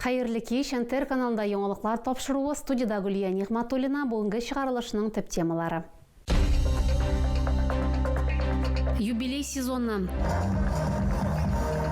Хәерле кич! НТР каналында яңалыклар тапшыруы, студиядә Гөлия Нигъматуллина, бүгенге чыгарылышның төп темалары. Юбилей сезоны.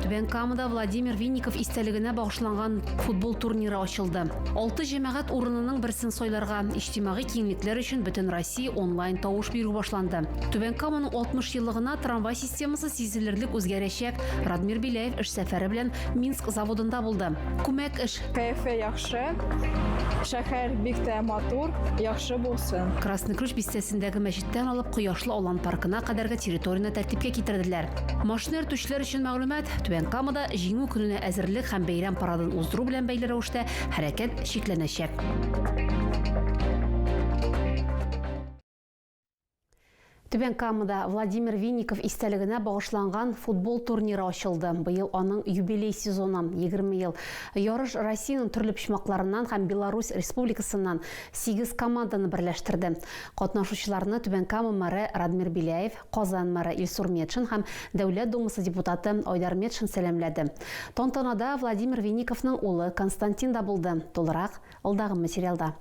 Түбән Камада Владимир Винников истәлегенә багышланган футбол турниры ачылды. Алты җәмәгать урынының берсен сайларга, иҗтимагый киңлекләр өчен Бөтенроссия онлайн тавыш бирү башланды. Түбән Каманың 60 еллыгына трамвай Темасы сизелерлек үзгәрәчәк. Радмир Беляев эш сәфәре белән Минск заводында булды. Күмәк эш. Кәефе яхшы. Шәһәр бик тә матур, яхшы булсын. Красный Ключ бистәсендәге мәчеттән алып Кояшлы Алан паркына кадәрге территорияне тәртипкә китерделәр. Машина йөртүчеләр өчен мәгълүмат, Түбән Камада Җиңү көненә әзерлек һәм бәйрәм парадын уздыру белән бәйле рәвештә хәрәкәт чикләнәчәк. Түбән Камада Владимир Винников истәлегенә багышланган футбол турниры ачылды. Быел аның юбилей сезоны 20 ел. Ярыш Россиянең төрле почмакларыннан һәм Беларусь республикасыннан 8 команданы берләштерде. Катнашучыларны Түбән Кама мэры Радмир Беляев, Казан мэры Илсур Метшин һәм Дәүләт Думасы депутаты Айдар Метшин сәламләде. Тантанада Владимир Винниковның улы Константин да булды. Тулырак алдагы материалда.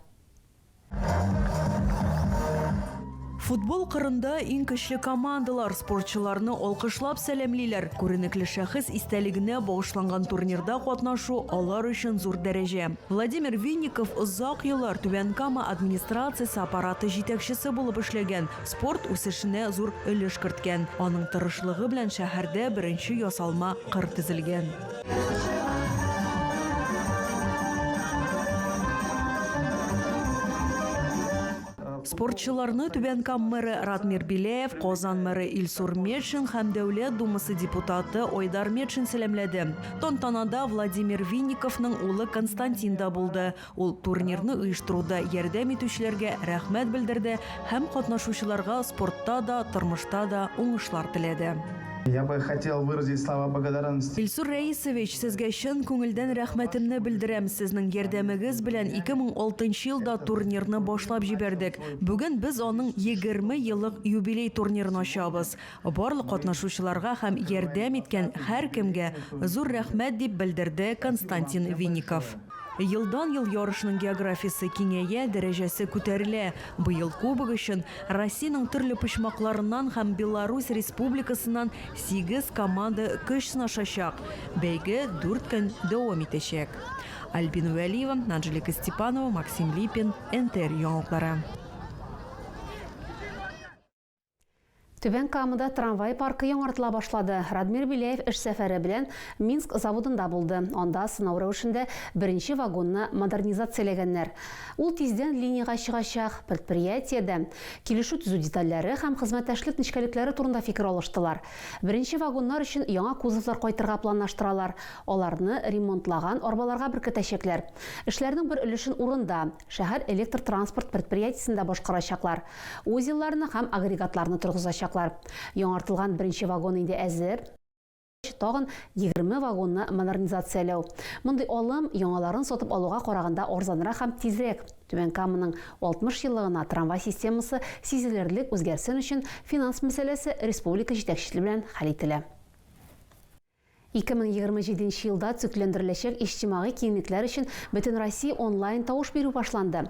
Футбол кырында иң көчле командалар спортчыларны алкышлап сәламлиләр. Күренекле шәхес истәлегенә багышланган турнирда катнашу алар өчен зур дәрәҗә. Владимир Винников озак еллар Түбән Кама администрациясе аппараты җитәкчесе булып эшләгән, спорт үсешенә зур өлеш керткән. Аның тырышлыгы белән шәһәрдә беренче ясалма кыр төзелгән. Спортчыларны Түбән Кам мэры Радмир Беляев, Казан мэры Илсур Метшин һәм Дәүләт Думасы депутаты Айдар Метшин сәламләде. Тантанада Владимир Винниковның улы Константин да булды. Ул турнирны оештыруда ярдәм итүчеләргә рәхмәт белдерде һәм катнашучыларга спортта да, тормышта да уңышлар теләде. Я бы хотел выразить слова благодарности. Илсур Рәисович, сезгә чын күңелдән рәхмәтемне белдерәм. Сезнең ярдәмегез белән 2006 нчы елда турнирны башлап җибәрдек. Бүген без аның 20 еллык юбилей турнирын ачабыз. Барлык катнашучыларга һәм ярдәм иткән һәркемгә зур рәхмәт, дип белдерде Константин Винников. Елдан-ел ярышның географиясе киңәя, дәрәҗәсе күтәрелә. Быел кубок өчен Россиянең төрле почмакларыннан һәм Беларусь Республикасыннан сигез команда көч сынашачак. Бәйге дүрт көн дәвам итәчәк. Альбина Вәлиева, Анжелика Степанова, Максим Липин, НТР яңалыклары. Түбән Камада трамвай паркы яңартыла башлады. Радмир Беляев эш сәфәре белән Минск заводында булды. Анда сынау рәвешендә беренче вагонны модернизацияләгәннәр. Ул тиздән линиягә чыгачак. Предприятиедә килешү төзү детальләре һәм хезмәттәшлек нечкәлекләре турында фикер алыштылар. Беренче вагоннар өчен яңа кузовлар кайтырга планлаштыралар. Аларны ремонтлаган арбаларга беркетәчәкләр. Эшләрнең бер өлешен урында, шәһәр электр транспорт предприятиесендә башкарачаклар. Узелларны һәм агрегатларны торгызачаклар. Яңартылган беренче вагон инде әзер. Тагын егерме вагонны модернизацияләү. Мондый алым яңаларын сатып алуга караганда арзанрак һәм тизрәк. Түбән Каманың 60 еллыгына трамвай системасы сизелерлек үзгәрсен өчен финанс мәсьәләсе республика җитәкчесе белән хәл ителә. 2027 нче елда төзекләндереләчәк иҗтимагый киңлекләр өчен бөтенроссия онлайн тавыш бирү башланды.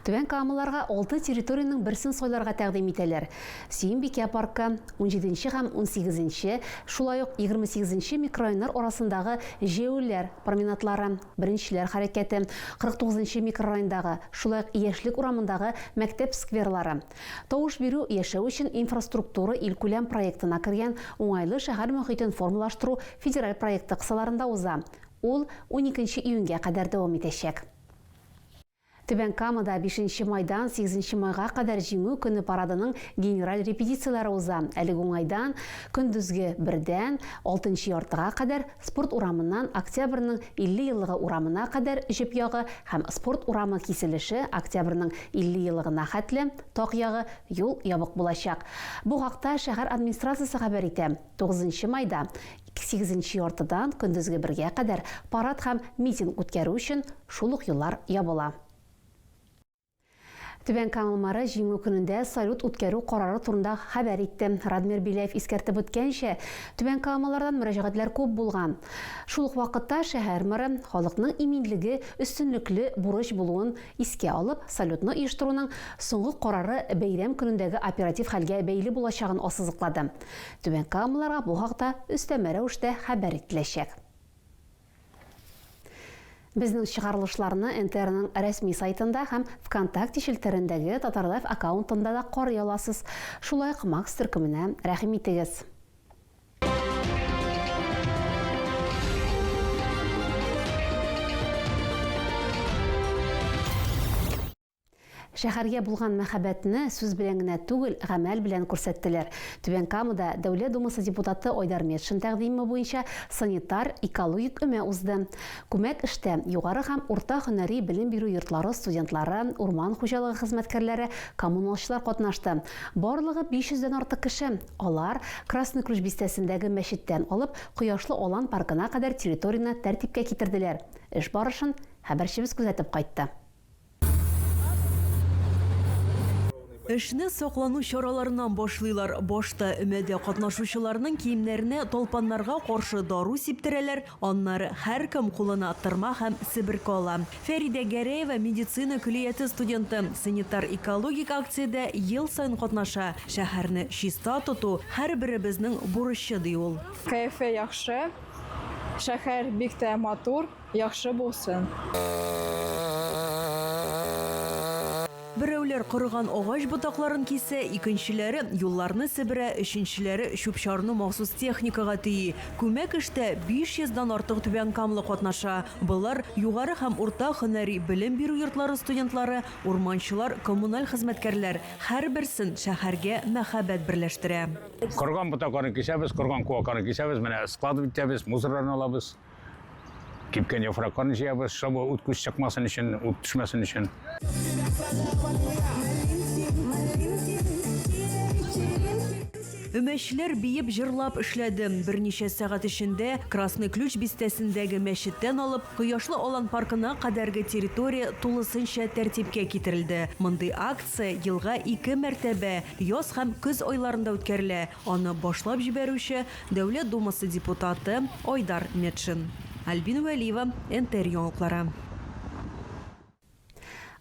Түбән Камаларга алты территориянең берсен сайларга тәкъдим итәләр. Сөембикә паркы, унҗиденче һәм унсигезенче, шулай ук егермесигезенче микрорайоннар арасындагы җәяүлеләр променадлары, беренчеләр хәрәкәте, кырык тугызынчы микрорайондагы, шулай ук Яшьлек урамындагы мәктәп скверлары, Тавыш бирү, яшәү өчен инфраструктура илкүләм проектына кергән Уңайлы шәһәр мохитен формалаштыру федераль проекты кысаларында уза. Ул уникенче июньгә кадәр дәвам итәчәк. Түбән Камада бишенче майдан сигезенче майга кадәр Җиңү көне парадының генераль репетицияләре уза. Әлеге уңайдан, көндезге бердән алтынчы яртыга кадәр Спорт урамыннан Октябрьнең 50 еллыгы урамына кадәр җеп ягы һәм Спорт урамы киселеше Октябрьнең 50 елыгына хәтле, так ягы, юл ябык булачак. Бу хакта шәһәр администрациясе хәбәр итә. Тугызынчы майда, сигезенче яртыдан көндезге бергә кадәр парад һәм митинг үткәрү өчен шул ук юллар ябыла. Түбән Камал мэры Җиңү көнендә салют үткәрү карары турында хәбәр итте. Радмир Беляев искәртеп үткәнчә, Түбән Камаллардан мөрәҗәгатьләр күп булган. Шул ук вакытта шәһәр мэры, халыкның иминлеге өстенлекле бурыч булуын искә алып, салютны оештыруның соңгы карары бәйрәм көнендәге оператив хәлгә бәйле булачагын ассызыклады. Түбән Камалларга бу хакта өстәмә рәвештә хәбәр ителәчәк. Безнең чыгарылышларны НТРның рәсми сайтында һәм ВКонтакте челтәрендәге Татарлайф аккаунтында да карый аласыз. Шулай ук Макс төркеменә рәхим итегез. Шәһәргә булган мәхәббәтне сүз белән генә түгел, гамәл белән күрсәттеләр. Түбән Камада Дәүләт Думасы депутаты Айдар Метшин тәкъдиме буенча санитар, экологик өмә узды. Күмәк эштә, югары һәм урта һөнәри белем бирү йортлары студентлары, урман хуҗалыгы хезмәткәрләре, коммуналчылар катнашты. Барлыгы 500 дән артык кеше. Алар, Красный Ключ бистәсендәге мәчеттән алып, Кояшлы Алан паркына кадәр территорияне тәртипкә китерделәр. Эш барышын хәбәрчебез күзәтеп кайтты. Эшне саклану чараларыннан башлыйлар. Башта өмәдә катнашучыларның киемнәренә талпаннарга каршы дару сиптерәләр, аннары һәркем кулына тырма һәм себерке ала. Фәридә Гәрәева, медицина көллияте студенты, санитар-экологик акциядә ел саен катнаша. Шәһәрне чиста тоту, һәрберебезнең бурычы, ди ул. Кәефе яхшы, шәһәр бик тә матур. Яхшы булсын. Берәүләр корыган агач ботакларын кисә, икенчеләре юлларны себерә, өченчеләре чүп-чарны махсус техникага төйи. Күмәк эштә 500 дан артык түбәнкамлы катнаша. Болар, югары һәм урта һөнәри белем бирү йортлары студентлары, урманчылар, коммуналь хезмәткәрләр. Һәрберсен шәһәргә мәхәббәт берләштерә. Корыган ботакларны кисәбез, корыган куакларны кисәбез, менә склад итәбез, мусорларны алабыз. Кипкән яфракларны җыябыз, шабы ут күз чыкмасын өчен, ут төшмәсен өчен. Өмәчләр биеп җырлап эшләде. Берничә сәгать эчендә Красный Ключ бистәсендәге мәчеттән алып, Кояшлы Алан паркына кадәрге территория тулысынча тәртипкә китерелде. Мондый акция елга ике мәртәбә, яз һәм көз айларында үткәрелә. Аны башлап җибәрүче, Дәүләт Думасы депутаты Айдар Метшин. Альбина Вәлиева, НТР яңалыклары.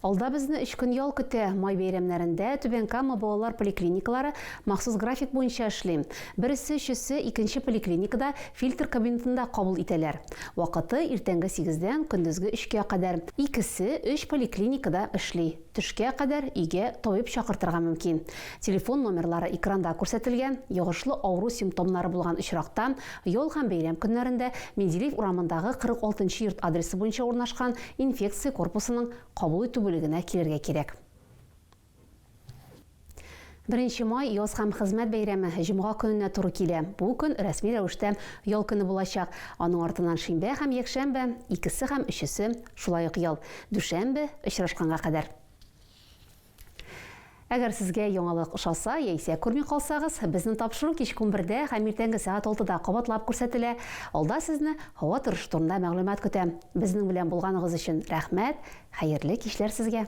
Алда безне өч көн ял көтә. Май бәйрәмнәрендә Түбән Кама балалар поликлиникалары махсус график буенча эшли. Бересе өчесе икенче поликлиникада фильтр кабинетында кабул итәләр. Вакыты, иртәнге сигездән көндезге өчкә кадәр. Икесе өч поликлиникада эшли. Төшкә кадәр өйгә табиб чакыртырга мөмкин. Телефон номерлары экранда күрсәтелгән. Йогышлы авыру симптомнары булган очракта, ял һәм бәйрәм көннәрендә Менделеев урамындагы 46 нчы йорт адресы буенча урнашкан инфекция корпусының кабул итү бүлегенә килергә кирәк. Беренче май, яз һәм хезмәт бәйрәме, җомга көненә туры килә. Бу көн рәсми рәвештә ял көне булачак. Аның артыннан шимбә һәм якшәмбе, икесе һәм өчесе шулай ук ял. Дүшәмбе, очрашканга кадәр. Әгәр сезгә яңалык ошаса яисә күрми калсагыз, безнең тапшыру кичке унбердә һәм иртәнге сәгать алтыда кабатлап күрсәтелә. Алда сезне һава торышы турында мәгълүмат көтә. Безнең белән булганыгыз өчен рәхмәт, хәерле кичләр сезгә!